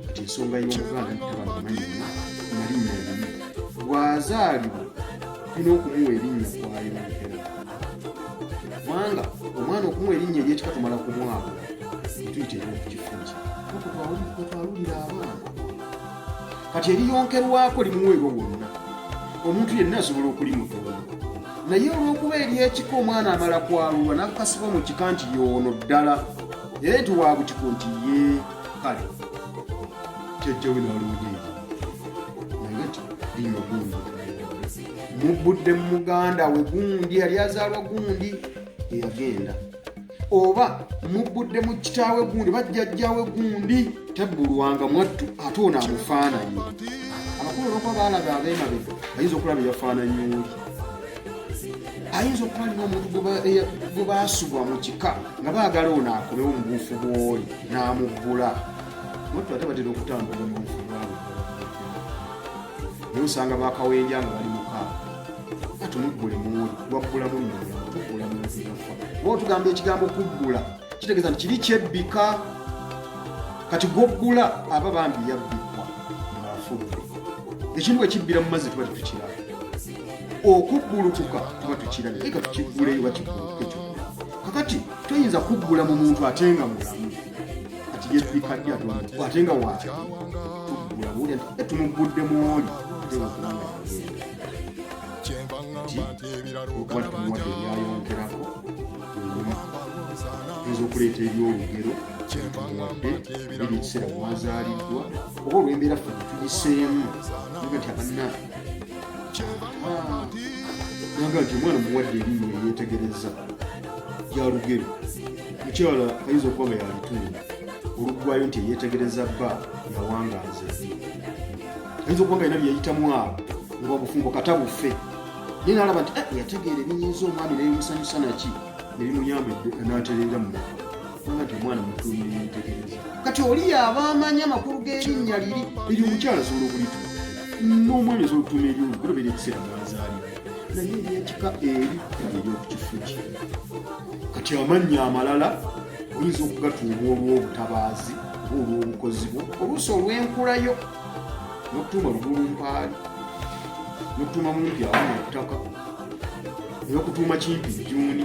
kati ensonga y'omuganda ntabamanyinya nalinnya limu bw'azaalibwa tulina okumuwa erinnya kwayonatera kubanga omwana okumuwa erinnya eryekika tumala ku mwaka tuyita eryokukifunza twalulira abaana kati eriyonkerwako limuweebwa wonna omuntu yenna asobola okulimutoona naye olw'okuba eryekika omwana amala kwalulwa nakukasibwa mu kika nti yoono ddala naye nti wabutiko nti ye kale jajjawe nalungi nagati linywa gundi mubudde mu muganda we gundi yali azaalwa gundi eyagenda oba mubudde mu kitaawe gundi bajjajjawe gundi tebbulwanga mwattu ate ono amufaananyi abakulu olwokuba baalaga abeemabega ayinza okulaba eyafaananyi oli ayinza okuba alina omuntu gwe baasubwa mu kika nga baagala ono akolewo mu buufu bwoli n'amuggula otu ate batera okutambula mu buufu bwabwe naye osanga bakawenja nga bali muka atumuggule muuli waggulamu nmuggulamuafa oba otugamba ekigambo kuggula kitegeeza nti kiri kyebbika kati gwoggula aba bambi yabbikwa ng'afudde ekintu bwe kibbira mu mazzi tuba tetukiraba okuggulukuka tuba tukirabye leka tukigguleyo bakiguluke kyo kakati toyinza kuggula mu muntu ate nga mulamu kati yebikaddi atulaa ate nga waaki tuggula buulya nti tumuggudde mu oli ate wakubanga okuba tumuwadde ebyayongerako oyinza okuleeta ebyolugero wadde biri ekiseera mwazaaliddwa oba olwembeera ffe tugiseemu nga nti abanna nanga nti omwana muwadde erinnyo eryetegereza yalugero mukyala ayinza okuba nga yalitunda oluggwayo nti eyetegereza bba yawanga nze ayinza okuba nga yina byeyitamu awo nga obufumbo kata bufe naye nalaba nti eh, yategeera ebinyinza omwami nebimusanyusa naki nebimuyamba natereera mu kati oli yaba amanyi amakulu g'erinnya liri eri omukyala asobola okulituma n'omwana asobola okutuma eri olugulobera ekiseera mwazaalibwa naye eryekika eri eryokukifuki kati amannya amalala oyinza okugatuuma olw'obutabaazi oba olw'obukozi bwo oluusi olw'enkulayo n'okutuuma lugulu mpaali n'okutuuma mumpi awo mu ttaka n'okutuuma kimpi jjuuni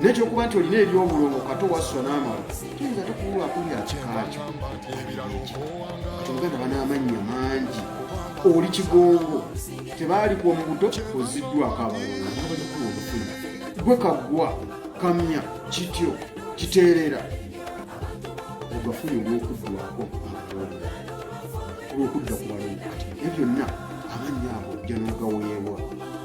naye kyokuba nti olina ebyobulongo kati owasswa n'amala kiyinza te kuwula akuli akikaakyo kati oluganda banaamannya mangi oli kigongo tebaalikuwa mu buto oziddwako abalongo nabalikula obufuna gwe kaggwa kamya kityo kiteerera ogafuna olwokuddwako abalongo olwokudda ku balongo kati ebyo byonna amannya ago janagaweebwa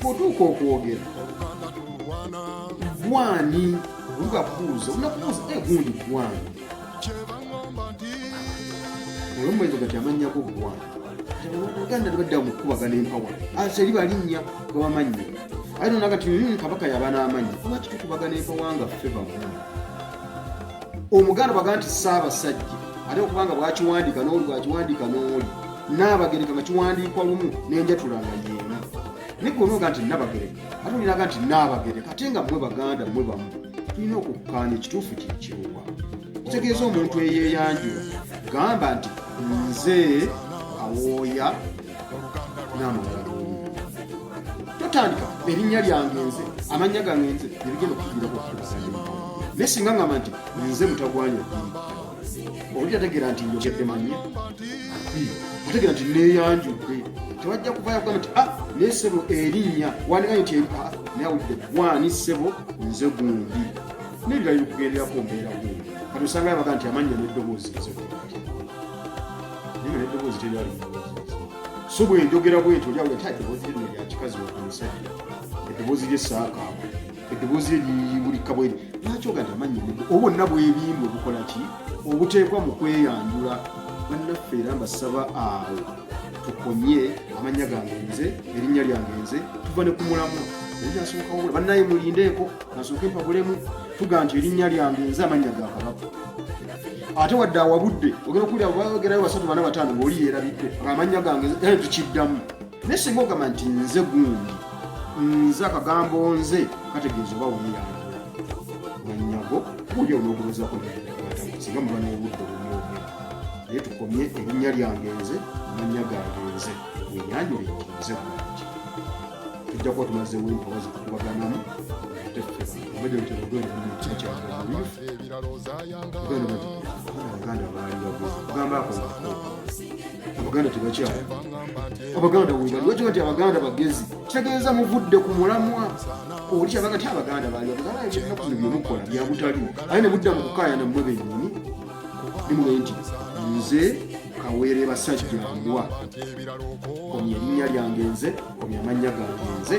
bwotuuka okwogera gwani obuga buuza onakubuuza egundi eh, gwani olwomuwezo gati amanyako gwani uganda tebadda mukukubagana empawa aseri ah, balinnya gabamannya aye nona kati hmm, kabaka yaba n'amannya lwaki tukubagana empawa nga ffe bamu omuganda baga nti saabasajja ate okubanga bwakiwandika noli bwakiwandika noli Nnaabagereka nga kiwandiikwa lumu n'enjatula nga yeemu. Naye gwe onooga nti Nnabagereka ate olinaga nti Nnaabagereka ate nga mmwe Baganda mmwe bamu. Tulina okukkaanya ekituufu kye kiruwa. Kitegeeza omuntu eyeeyanjula gamba nti nze awooya n'amawala totandika erinnya lyange nze amannya gange nze nebigenda okukugira kukuaa naye singa ngamba nti nze mutagwanya Oli ategeera nti njogedde manyi ategeera nti neeyanjudde tewajja kuvayo kugamba nti ah naye ssebo erinnya wandikaye nti ah, naye awulidde gwani ssebo nze gundi nebirala bikugenderako mbeera gundi kati osanga yabaga nti amannya n'eddoboozi nzegundi naye n'eddoboozi teryali so bwenjogera bwentyo olyawulira ti eddoboozi lino lyakikazi wamusajja eddoboozi ly'essaakaamu eddoboozi lye liyimbulika bweri lwaki ogana amanyi obwonna bwebimbwe bukola ki obuteekwa mu kweyanjula bannaffe era mbasaba awo tukomye amannya gange nze erinnya lyange nze tuva ne ku mulamu eryasookawola bannaye mulindeeko nasooke mpabulemu tuga nti erinnya lyange nze amannya ga kabaka ate wadde awabudde ogera okuwulira bagerayo basatu bana bataano ngaoli yeerabidde ngaamannya gange eh, tukiddamu naye singa ogamba nti nze gundi nze akagambo nze kategeeza oba weyanga nanyago oli onoogulozako singa muba n'obudde obunyooge naye tukomye erinnya lyange nze manya gange nze wenyanjule nti nze gundi tujja kuba tumazeewo empawa zikukubaganamu uganda baali bagamba ako abaganda tebakyala abaganda webaliwakiwa nti abaganda bagezi kitegeeza muvudde ku mulamwa oli kyabaga ti abaganda bali abaganda ebinaku bino byemukola byabutali aye ne mudda mu kukaayana mmwe bennyini nimwe nti nze kaweere basajja mbwa komya erinnya lyange nze komya amannya gange nze